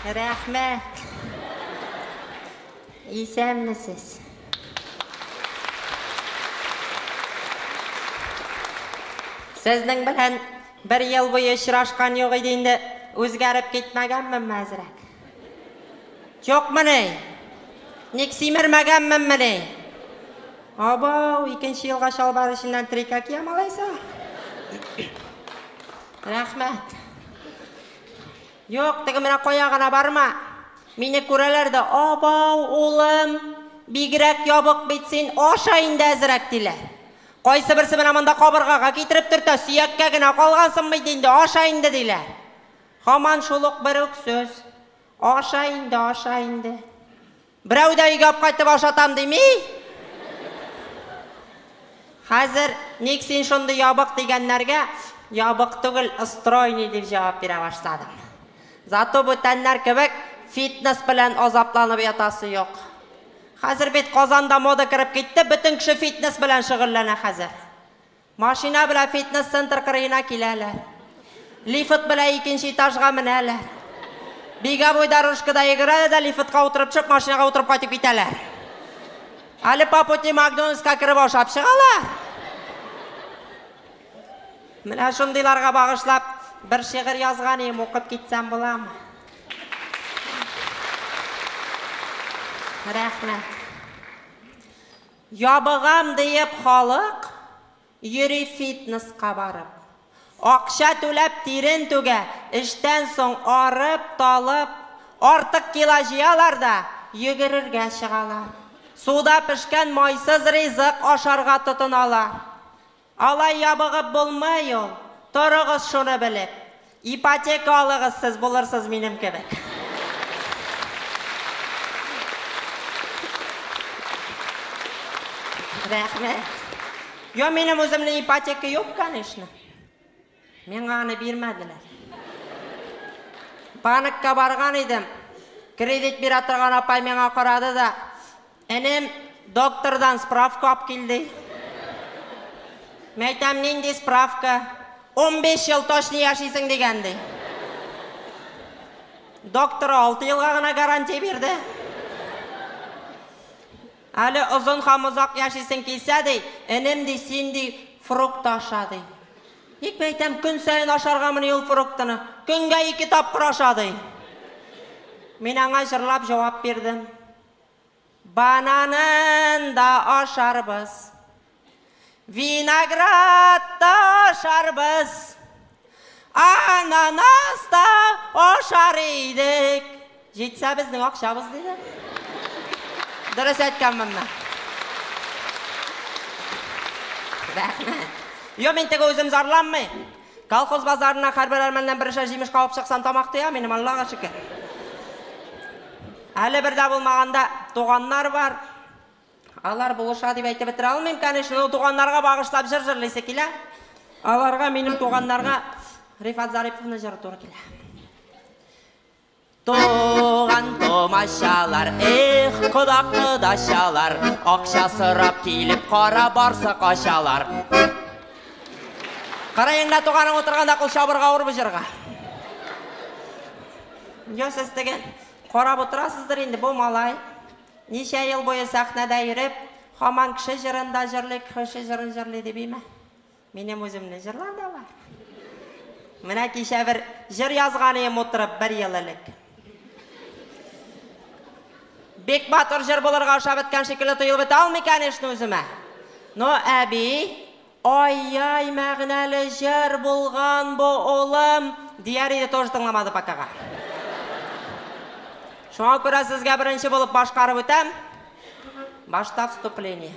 Рәхмәт! Исәнмесез! Сезнең белән бер ел буе очрашкан юк иде инде, үзгәреп китмәгәнменме әзрәк? Юкмыни? Ник симермәгәнменмени? Абау, икенче елга чалбар эченнән трика киям алайса. Рәхмәт. Юк, теге менә кая гына барма. Мине күрәләр дә, Абау, улым, бигрәк ябык бит син, аша инде әзрәк, диләр. Кайсыберсе менә монда кабыргага китереп төртә, сөяккә генә калгансың бит инде, аша инде, диләр. Һаман шул ук бер үк сүз, Аша инде, аша инде. Берәү дә өйгә апкайтып ашатам дими. Хәзер ник син шундый ябык дигәннәргә, ябык түгел, стройный дип җавап бирә башладым. Зато бүтәннәр кебек фитнес белән азапланып ятасы юк. Хәзер бит Казанда мода кереп китте, бөтен кеше фитнес белән шөгыльләнә хәзер. Машина белән фитнес-центр кырыена киләләр. Лифт белән икенче этажга менәләр. Беговой дорожкада йөгерәләр дә лифтка утырып төшеп, машинага утырып кайтып китәләр. Әле по пути Макдональдска кереп ашап чыгалар. Менә шундыйларга багышлап бер шигырь язган идем, укып китсәм буламы? Рәхмәт. Ябыгам диеп халык йөри фитнеска барып. Акча түләп тирен түгә, эштән соң арып, талып, артык кило җыялар да йөгерергә чыгалар. Суда пешкән майсыз ризык ашарга тотыналар. Алай ябыгып булмый ул, торыгыз шуны белеп. Ипотека алыгыз сез булырсыз минем кебек. Рәхмәт. Йо минем үземнең ипотека юк конечно. Миңа аны бирмәделәр. Банкка барган идем. Кредит бирә торган апай миңа карады да, Энем, доктордан справка алып кил, ди. Мин әйтәм, нинди справка? Унбиш ел точно яшисең дигән, ди. Доктор алты елга гына гарантия бирде. Әле озын һәм озак яшисең килсә, ди, энем, ди, син, ди, фрукты аша, ди. Ник мин әйтәм, көн саен ашаргамыни ул фруктыны? Көнгә ике тапкыр аша, ди. Мин аңа җырлап җавап бирдем. Бананын да ашарбыз. Виноград та ашарбыз, ананас та ашар идек. Җитсә безнең акчабыз, диде. Дөрес әйткән монда. Рәхмәт. Йо, мин теге үзем зарланмый. Колхоз базарына хәрбер әрмәннән берешә җимеш кавып чыксан тамак тыя минем, Аллага шөкер. Әле бердә булмаганда туганнар бар. Алар булыша дип әйтеп бетерә алмыйм, конечно, но туганнарга багышлап җыр җырлыйсы килә. Аларга, минем туганнарга Рифат Зариповны җыры туры килә. Туган томачалар, эх, кода кодачалар, акча сорап килеп кара барсы качалар. Караеңда туганың утырганда кул чабырга авыр бу җырга. Йо, сез теге карап утырасыздыр инде бу малай. Ничә ел буе сәхнәдә йөреп, хаман кше җырын да җырлый, кхше җырын җырлый дип име? Минем үземне җырлар да бар. Менә кичә бер җыр язган ием утырып, бер ел элек. Бик матур җыр булырга ошап беткән шикелле тоелып бетә алмый, кәнешне, үземә. Ну, әби, Ай-яй мәгънәле җыр булган бу улым! Дияр иде тоже тыңламады покага. Шуңа күрә сезгә беренче булып башкарып үтәм. Башта вступление.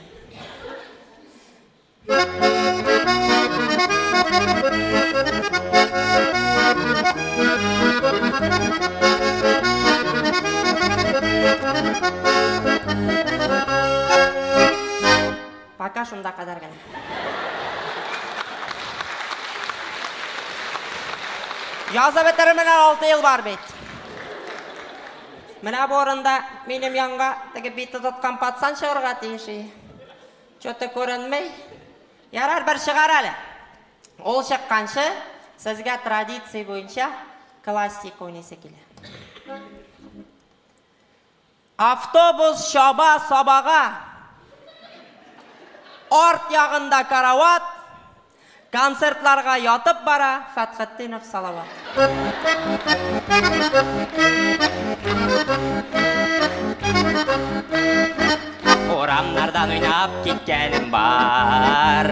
Пока шунда кадәр генә. Язып бетермәгә алты ел бар бит. Менә бу урында минем янга теге бите тоткан пацан чыгарга тиеш и. Чоты күренми. Ярар, бер чыгар әле. Ул чыкканчы, сезгә традиция буенча классика уйныйсы килә. Автобус чаба сабага. Арт ягында карават, Концертларга ятып бара Фәтхетдинов Салават. Урамнардан уйнап киткәнем бар.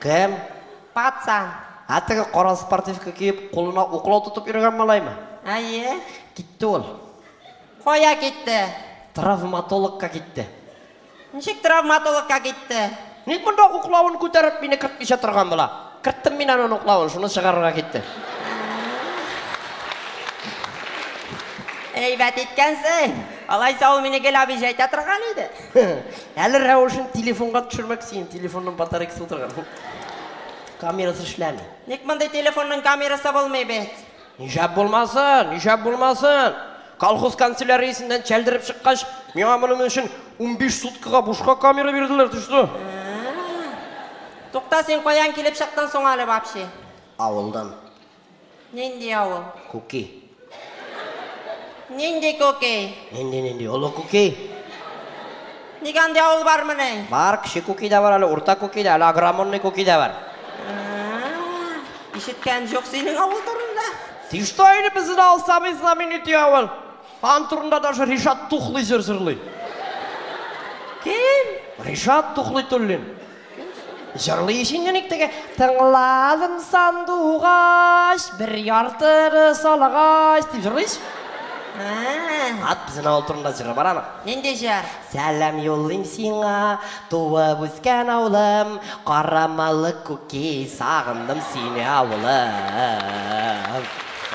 Кем? Пацан. Ә теге кара спортивка киеп, кулына уклау тотып йөргән малаймы? Әйе. Китте ул. Кая китте? Травматологка китте. Ничек травматологка китте? Ник монда уклавын күтәреп мине кертмичә торган була? Керттем мин аның уклавын, шуны чыгарырга китте. Әйбәт иткәнсең. Алайса ул мине гел абиҗәйтә торган иде. Әле рәвешен телефонга төшермәк, синең телефонның батарейкасы утырган. Камерасы эшләми. Ник мондый телефонның камерасы булмый бит? Нишәп булмасын, нишәп булмасын? Колхоз канцеляриясеннән чәлдереп чыккач, миңа моның өчен 15 суткага бушка камера бирделәр, төште. Тукта, син каян килеп чыктың соң әле вообще? Авылдан. Нинди авыл? Күки. Нинди күки? Нинди-нинди, олы күки. Ник андый авыл бармыни? Бар, кече күки дә бар әле, урта күки дә, әле агромонный күки дә бар. Ишеткән җук синең авыл турында. Ти что инде безне дә алсабый знаменитый авыл. Ан турында даже Ришат Тухлый җыр җырлый. Кем? Ришат Тухлый Туллин. Җырлый өчен юник теге. Тыңладым сандугач, бер яртыны салагач, дип җырлый ич. Ә-ә-ә. Ат безнең авыл турында җыры бар аның. Нинди җыр? Сәлам юллыйм сиңа, туып үскән авылым, карамалы күки, сагындым сине авылым.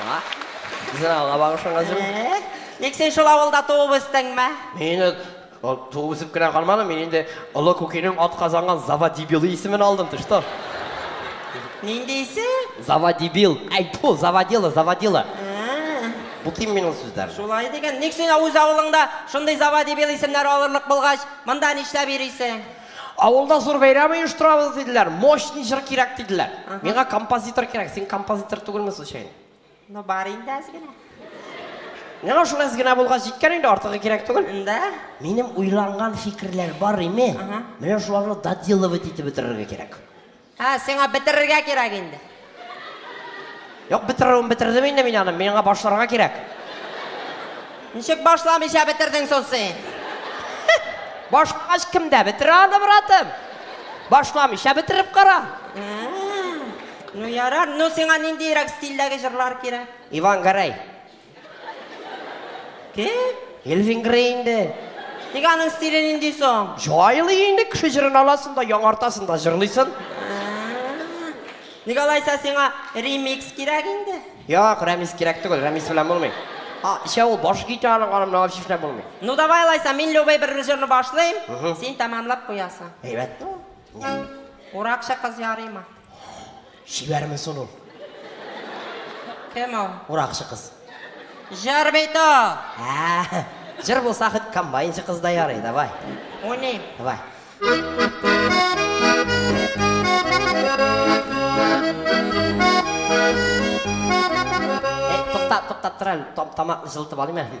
А? Безнең авылга багышланган җыр. Ник син шул авылда туып үстеңме? Мин Ул туып үсеп кенә калмады, мин инде Олы Күкинең атказанган Заводибилы исемен алдым, ты что? Нинди исе? Заводибил. Әй, тьфу, заводила, заводила. Бутыйм мин ул сүзләрне. Шулай дигән. Ник син үз авылыңда шундый заводибил исемнәр алырлык булгач, монда нишләп йөрисең? Авылда зур бәйрәм оештырабыз диделәр, мощный җыр кирәк диделәр. Миңа композитор кирәк, син композитор түгелме случайно? Ну бар инде әз генә. Менә шул әз генә булгач җиткән инде, артыгы кирәк түгел. Да. Минем уйланган фикерләр бар име? Ага. Менә шуларны доделывать итеп бетерергә кирәк. Ә, сиңа бетерергә кирәк инде. Юк, бетерүен бетердем инде мин аны, миңа башларга кирәк. Ничек башламыйча бетердең соң син? Башлагач кемдә? Бетерә аны, братым. Башламыйча бетереп кара. Ә. Ну ярар, ну сиңа ниндиерәк стильдәге җырлар кирәк? Иван Грей. Кем? Элвин Грей инде. Ник аның стиле нинди соң? Җайлый инде, кеше җырын аласың да, яңартасың да җырлыйсын. Ник алайса сиңа ремикс кирәк инде? Як, рәмис кирәк түгел, рәмис белән булмый. А, исә ул баш гитараның аны менә алып чишмә булмый. Ну давай алайса, мин любой бер җырны башлыйм, син тәмамлап куясың. Әйбәт. Уракчы кыз ярыймы? Чибәрме сон ул? Кем ул? Уракчы кыз. Җыр бит ул! Ә-ә-ә! Җыр булса хоть комбайнчы кыз да ярый, давай. Уйныйм. Давай. Туктап, туктап тор әле, тамакны җылытып алыйм әле.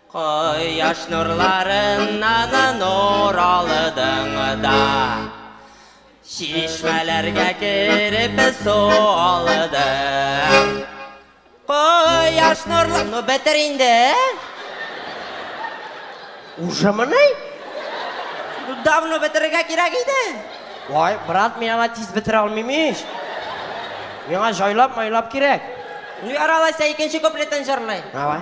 Кояш нурларына да нур алдың да Чишмәләргә кереп су алдың Кояш нурлар... Ну, бетер инде! Уже мыни? Давно бетерергә кирәк иде! Вай, брат, мин ала тиз бетерә алмыйм ич! Миңа җайлап-майлап кирәк! Ну, яралайса, икенче куплетын җырлый. Давай.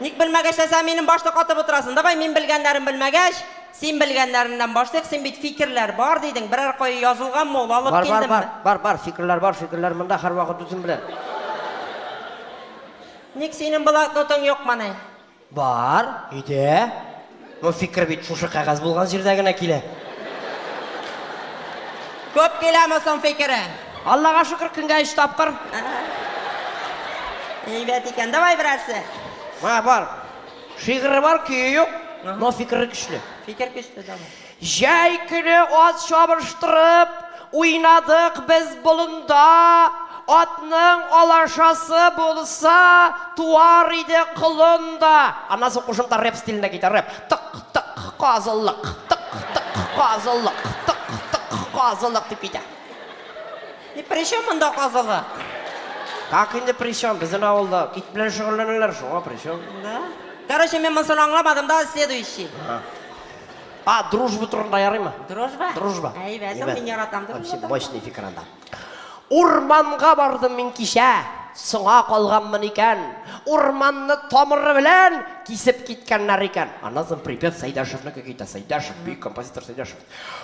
Ник белмәгәч тә сән минем башны катып утырасың? Давай мин белгәннәрен белмәгәч, син белгәннәреннән башлыйк, син бит фикерләр бар дидең, берәр кая язылганмы ул, алып Бар, бар, килдемме? бар, бар, бар, фикерләр бар, фикерләр монда һәрвакыт үзем белән. Ник синең блокнотың юкмыни? Бар, өйдә. Ну фикер бит шушы кәгазь булган җирдә генә килә. Күп киләме соң фикере? Аллага шөкер, көнгә өч тапкыр. Әйбәт икән, давай берәрсе. Мә, бар. Шигыре бар, көе юк, но фикере көчле. Фикер көчле, давай. Җәй көне ат чабыштырып уйнадык без болында, Атның алашасы булса, туар иде колын да. Аннан соң кушымта рэп стилендә китә, рэп. Тык, тык, казылык, тык, тык, казылык, тык, тык, казылык, дип китә. И при чем монда казылык? Как инде при чем? Безнең авылда ит белән шөгыльләнәләр, шуңа при чем? Да? Короче, мин монысын аңламадым да, следующий. А, дружба турында ярыймы? Дружба? Дружба. Әйбәт, Әйбәт. мин яратам дружба. Вообще мощный фикер анда. Урманга бардым мин кичә, соңа калганмын икән. Урманны тамыры белән кисеп киткәннәр икән. Аннан соң припев Сәйдәшевнеке китә. Сәйдәшев, бөек композитор Сәйдәшев.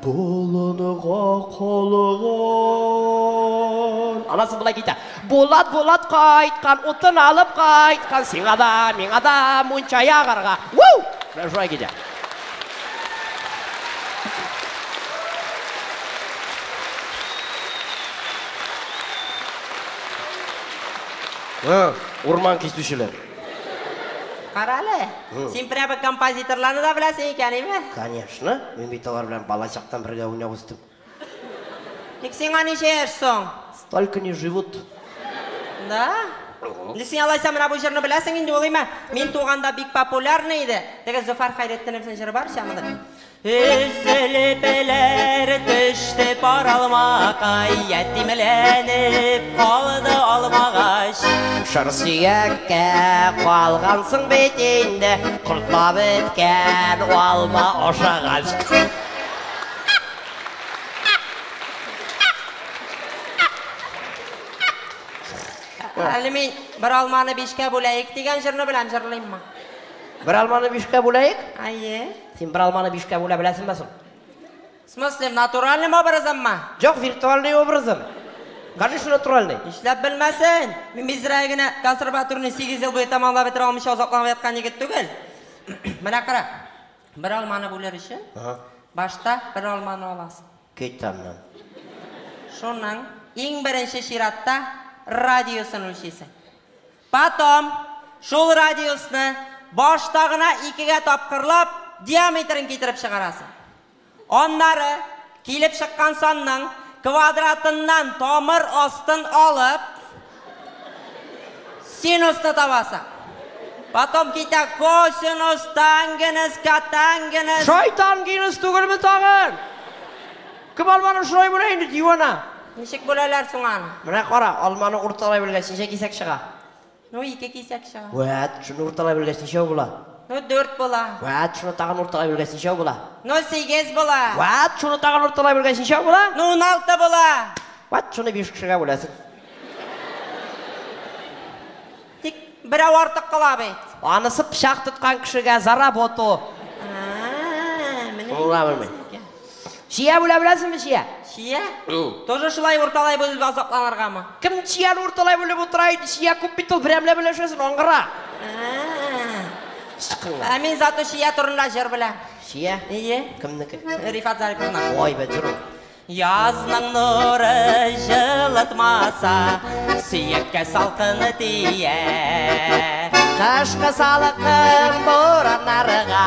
Болынга калган. Анасы болай дидә. Булат, Булат кайткан, утын алып кайткан, сиңа да, миңа да мунча ягарга. Уу! Менә шулай дидә. Урман кисүчеләр. Карале, син прямо композиторларны да беләсең икән, име? Конечно. Шуны? Мин бит алар белән балачактан бергә уйнап үстем. Ник сиңа ничә яшь соң? Столько не живут. Да? Инде син алайса менә бу җырны беләсең инде ул име? Мин туганда бик популярный иде. Теге Зөфәр Хәйретдиновның җыры бар ич аны. Өзелеп эләр төште пар алмакай, ятимләнеп калды алмагач. Шыр сөяккә калгансың бит инде, Кортлар беткән алма ашагач. Әле мин бер алманы бишкә бүләек дигән җырны беләм, җырлыйммы? Бер алманы бишкә бүләек? Әйе. Син бер алманы бишкә бүлә беләсеңме соң? В смысле, натуральным образыммы? Җок, виртуальный образым. Конечно, натуральный. Нишләп белмәсен? Мин бизрәк генә консерваторны сигез ел буе тәмамлап бетерә алмыйча азапланып яткан егет түгел. Менә кара, бер алманы бүлер өчен, башта бер алманы аласың. Кит аннан. Шуның иң беренче чиратта радиусын үлчисең. Потом шул радиусны башта гына икегә тапкырлап, диаметрын китереп чыгарасың. Аннары, килеп чыккан санның квадратыннан тамыр астын алып, синусны табасың. Потом китә косинус, тангенус, котангенус. Шайтан гинус түгелме тагын? Кем алманы шулай бүлә инде, дивана? Ничек бүләләр соң аны? Менә кара, алманы урталай белгәч, ничә кисәк чыга? Ну, ике кисәк чыга. Вәт, шуны урталай белгәч, ничәү була? Ну, дүрт була. Вәт, шуны тагын урталай белгәч, ничәү була? Ну, сигез була. Вәт, шуны тагын урталай белгәч, ничәү була? Ну, уналты була. Вәт, шуны биш кешегә бүләсең. Тик берәү артык кала бит. Анысы пычак тоткан кешегә за работу. А, менә Шуны уйлап инде. Чия бүлә беләсеңме, чия? Чия? Тоже шулай урталай бүлеп азапланыргамы? Кем чияне урталай бүлеп утыра инде, чия күп бит ул, берәмләп өләшәсен, аңгыра. Ә мин зато чия турында җыр беләм. Чия? Ие. Кемнеке? Рифат Зариповна. Ой, бе, җыр ул. Язның нуры җылытмаса, сөяккә салкыны тия. Кышкы салкын бураннарга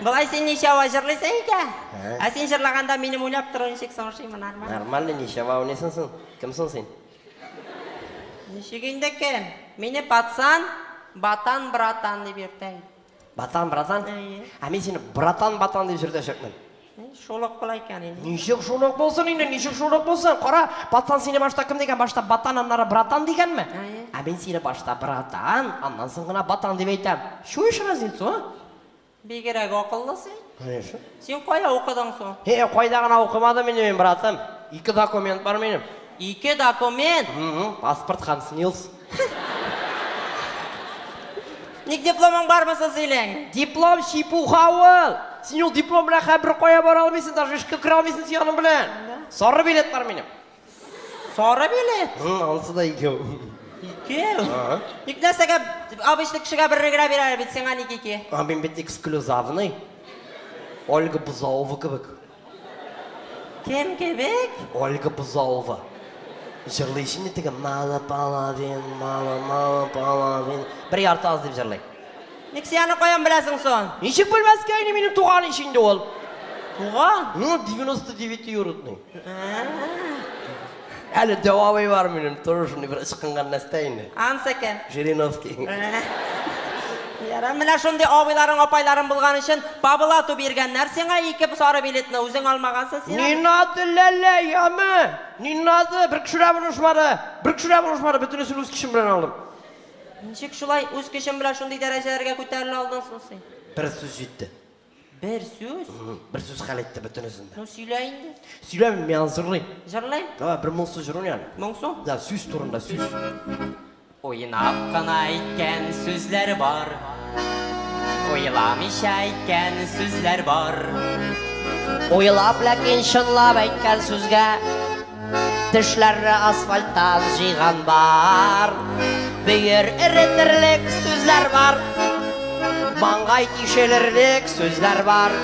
Болай син ничава җырлыйсың икән? Ә син җырлаганда минем уйлап тору ничек соң шимы, нормаль? Нормально, ничава уйныйсың соң. Кем соң син? Ничек инде кем? Мине пацан, батан, братан дип йөртә инде. Батан, братан? Әйе. Ә мин сине братан, батан дип җөртәчәкмен. Шул ук була икән инде. Ничек шул ук булсын инде, ничек шул ук булсын? Кара, пацан сине башта кем дигән? Башта батан, аннары братан дигәнме? Әйе. Ә мин сине башта братан, аннан соң гына батан дип әйтәм. Чуешь разницу, а? Бигерәк акыллы син. Конечно. Син кая укыдың соң? Һе, кайда гына укымадым инде мин, братым. Ике документ бар минем. Ике документ? Угу, паспорт һәм снилс. Ник дипломың бармы соң синең? Диплом чепуха ул! Син ул диплом белән хәзер беркая бара алмыйсың, даже эшкә керә алмыйсың син аның белән. Сары билет бар минем. Сары билет? Һы, алсы да икәү. Икәү? Ага. Ник нәрсәгә обычный кешегә берне генә бирәләр бит, сиңа ник ике? А мин бит эксклюзавный. Ольга Бузаова кебек. Кем кебек? Ольга Бузаова. Җырлый җине теге мало половин, мало мало половин. Бер ярты аз дип җырлый. Ник син аны каян беләсең сон? Ничек белмәскә инде минем туган ич инде ул. Туган? Ну, 99 юрутный. Әле җавабы бар минем, тору шундый бер ычкынган нәрсә инде. Ансы кем? Жириновский. Яра, менә шундый абыйларың, апайларың булган өчен пабылату биргәннәр сиңа ике сары билетны, үзең алмагансың син. Не надо, ләлә, яме! Не надо, бер кешеләр булышмады. Бер кешеләр булышмады, бөтенесен үз көчем белән алдым. Ничек шулай үз көчең белән шундый дәрәҗәләргә күтәрелә алдың соң син? Бер сүз җитте. Бер сүз? Бер сүз хәл итте бөтенесен дә. Ну, сөйлә инде. Сөйләмим, мин аны җырлыйм. Җырлыйм? Давай, бер моңсу җыр уйна әле. Моңсу? Да, сүз турында, сүз. Уйнап кына әйткән сүзләр бар. Уйламыйча әйткән сүзләр бар. Уйлап, ләкин чынлап әйткән сүзгә Тешләрне асфальттан җыйган бар Бөер эретерлек сүзләр бар Маңгай тишелерлек сүзләр бар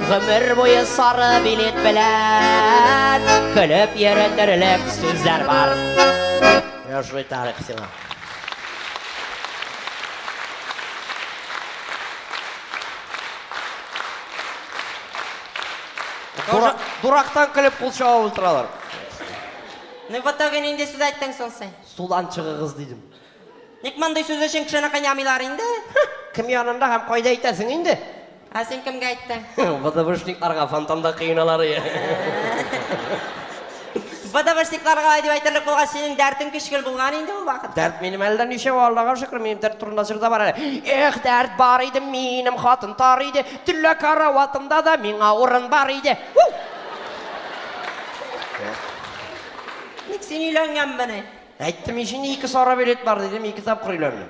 Гомер буе сары билет белән Көлеп йөретерлек сүзләр бар Яшли тарих сиңа Дурактан көлеп кул чаба ултыралар. Ну в итоге нинди сүз әйттең соң син? Судан чыгыгыз дидем. Ник мондый сүз өчен кешене кыйнамыйлар инде? Кем янында һәм кайда әйтәсең инде? Ә син кемгә әйттең? ВДВшникларга фонтанда кыйналар. Бадавырсикларга лай дип әйтерлек булгач, синең дәртең көчкел булган инде ул вакытта. Дәрт минем әллә ничәү, Аллага шөкер, минем дәрт турында җыр да бар әле. Эх, дәрт бар иде, минем хатын тар иде, төнлә караватымда да миңа урын бар иде. Уу! Ник син өйләнгәнмени? Әйттем ич инде, ике сары билет бар дидем, ике тапкыр өйләндем.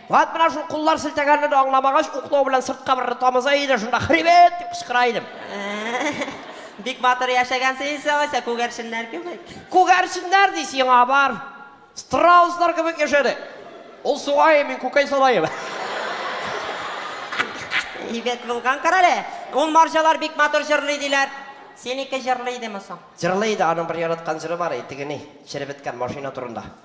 Вәт менә шул куллар селтәгәнне дә аңламагач, уклау белән сыртка бер тамыза иде, шунда хребет! дип кычкыра идем. Бик батыр яшәгәнсең инде, алайса, күгәрченнәр кебек. Күгәрченнәр ди сиңа, бар! Страуслар кебек яшәдек. Ул сугаем, мин күкәй салаем. Әйбәт булган, карале! Ул марҗалар бик матур җырлый, диләр. Синеке җырлый идеме соң? Җырлый иде, аның бер яраткан җыры бар иде, теге ни, черебеткән машина турында.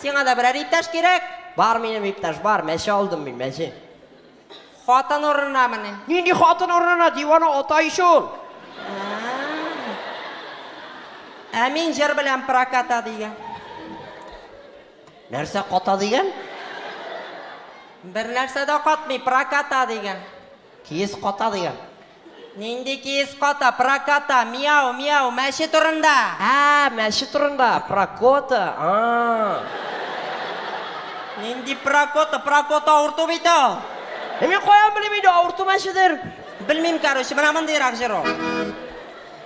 Сиңа да берәр иптәш кирәк? Бар минем иптәш, бар, мәче алдым мин, мәче. Хатын урынамыни? Нинди хатын урынына, дивана ата ич ул. Ә мин җыр белән проката дигән. Нәрсә ката дигән? Бер нәрсә дә катмый, проката дигән. Киез ката дигән. Нинди киез ката, проката, миау, миау, мәче турында. Ә, мәче турында, прокота, а. Нинди прокота, прокота авырту бит ул. Ә мин каян белим инде авырту мәчедер. Белмим, короче, менә мондыйрак җыр ул.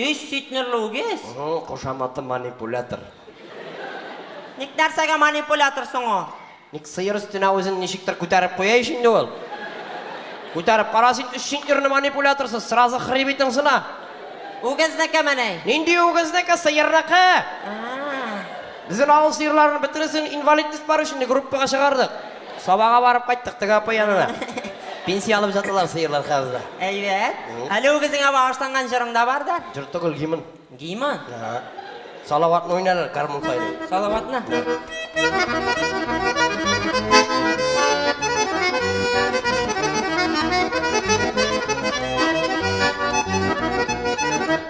Өч сөйтнерле үгез? Угу, кушаматы манипулятор. Ник нәрсәгә манипулятор соң ул? Ник сыер өстенә үзен ничектер күтәреп куя ич инде ул. Күтәреп кара син өч сөйтнерле манипуляторсыз, сразу хребетың сына. Үгезнекеме ни? Нинди үгезнеке, сыерныкы! Безнең авыл сыерларын бөтенесен инвалидность бар өчен группага чыгардык. Сабага барып кайттык теге апа янына. Пенсия алып жаталар сыерлар хәзер дә. Әйбәт. Әле үгезеңә багышланган җырың да бар да. Җыр түгел, гимн. Гимн? Ага. Салаватны уйнарлар гармун сайрый. Салаватны?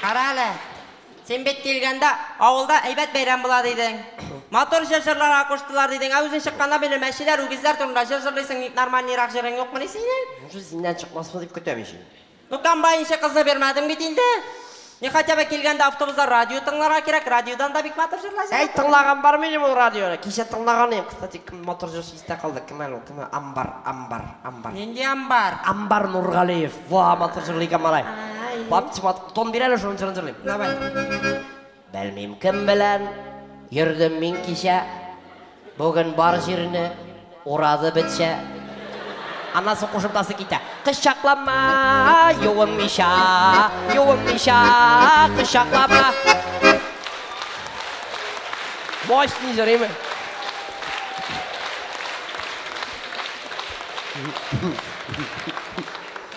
Кара әле, син бит килгәндә авылда әйбәт бәйрәм була дидең. Матур җыр җырларга куштылар дидең, ә үзең чыкканда бирле мәчеләр, үгезләр турында җыр җырлыйсың, ник нормальныйрак җырың юкмыни синең? Уже синнән чыкмасмы дип көтәм ич инде. Ну комбайн ише кызны бирмәдең бит инде. Не хотя бы килгәндә автобузда радио тыңларга кирәк, радиодан да бик матур җырлар җырлап Әй, тыңлаган бар минем ул радионы. Кичә тыңлаган идем, кстати, кем матур җырчы Истә калды, кем әле ул, кем ул, Амбар, Амбар, Амбар. Нинди Амбар? Амбар Нургалиев, ваа, матур җырлый икән малай. Папчи мат, тон бир әле шуның җырын җырлыйм. Давай. Белмим кем белән йөрдем мин кичә, бүген бар җирне урады бетчә. Аннан соң кушымтасы китә. Кочаклама, юынмыйча, юынмыйча, кочаклама. Мощный җырыйм.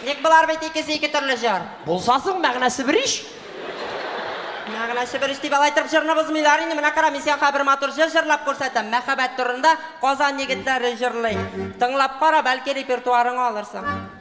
Ник болар бит икесе ике төрле җыр? Булса соң, мәгънәсе бер ич. Мәгънәсе бер ич дип алай торып җырны бозмыйлар инде. Менә кара, мин сиңа хәзер бер матур җыр җырлап күрсәтәм. Мәхәббәт турында Казан егетләре җырлый. Тыңлап кара, бәлки репертуарыңа алырсың.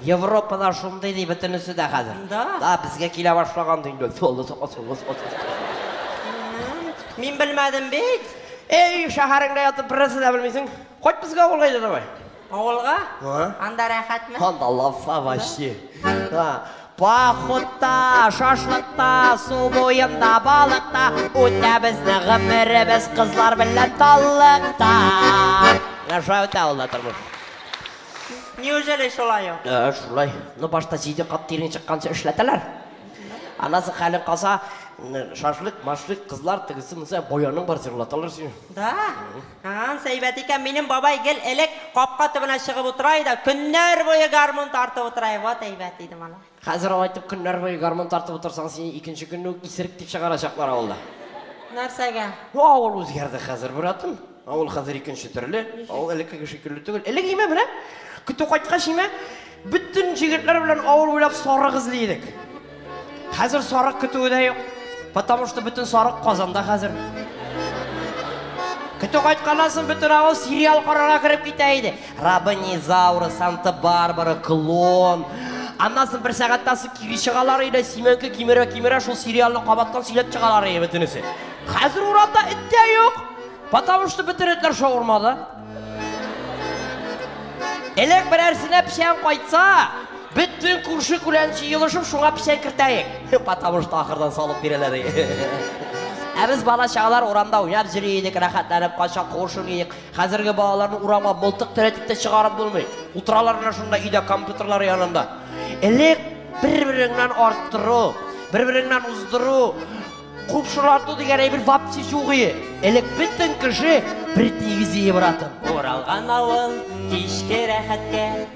Европада шундый ди бөтенесе дә хәзер. Да? Да, безгә килә башлаган ди инде. Солы, солы, солы, солы. Мин белмәдем бит. Эй, шәһәреңдә ятып бернәрсә дә белмисең. Кайт безгә авылга иде давай. Авылга? Ага. Анда рәхәтме? Анда лафа вообще. Да. Пахутта, шашлыкта, су буенда, балыкта, үтә безне гомеребез кызлар белән таллыкта. Менә шулай үтә ул да тормыш. Неужели шулай ул? Ә, шулай. Ну, башта җиде кат тирен чыкканчы эшләтәләр. Аннан соң хәлең калса, шашлык, машлык, кызлар тегесе монысы бояның бар җырлаталар сине. Да? Ан сәйбәт икән, минем бабай гел элек капка төбенә чыгып утыра иде, көннәр буе гармун тартып утыра иде. Вот әйбәт иде, малай. Хәзер алай итеп көннәр буе гармун тартып утырсаң, сине икенче көнне үк исерек дип чыгарачаклар авылда. Нәрсәгә? Ну, авыл үзгәрде хәзер, братым. Авыл хәзер икенче төрле. Авыл элеккеге шикелле түгел. Элек имә менә, көтү кайткач имә, бөтен җегетләр белән авыл буйлап сарык эзли идек. Хәзер сарык көтүе дә юк. Потому что бөтен сарык Казанда хәзер. Көтү кайтканнан соң бөтен авыл сериал карарга кереп китә иде. Рабонизауры, Санта-Барбара, Клон. Аннан соң бер сәгатьтән соң кире чыгалар иде, Сименке кимерә кимерә шул сериалны кабаттан сөйләп чыгалар иде бөтенесе. Хәзер урамда эт тә юк. Потому что бөтен этләр шаурмада. Элек берәрсенә печән кайтса, бөтен күрше күлән җыелышып шуңа печән кертәек. Потому что ахырдан салып бирәләр. Ә без бала чагалар урамда уйнап йөри идек, рәхәтләнеп кайчак куышып идек. Хәзерге балаларны урамга мылтык терәтеп тә чыгарып булмый. Утыралар гына шунда өйдә компьютерлар янында. Элек бер-береңнән арттыру, бер-береңнән уздыру, купшылату дигән әйбер вообще юк ие. Элек бөтен кеше бер тигез ие братым. Уралган авыл кичке рәхәткә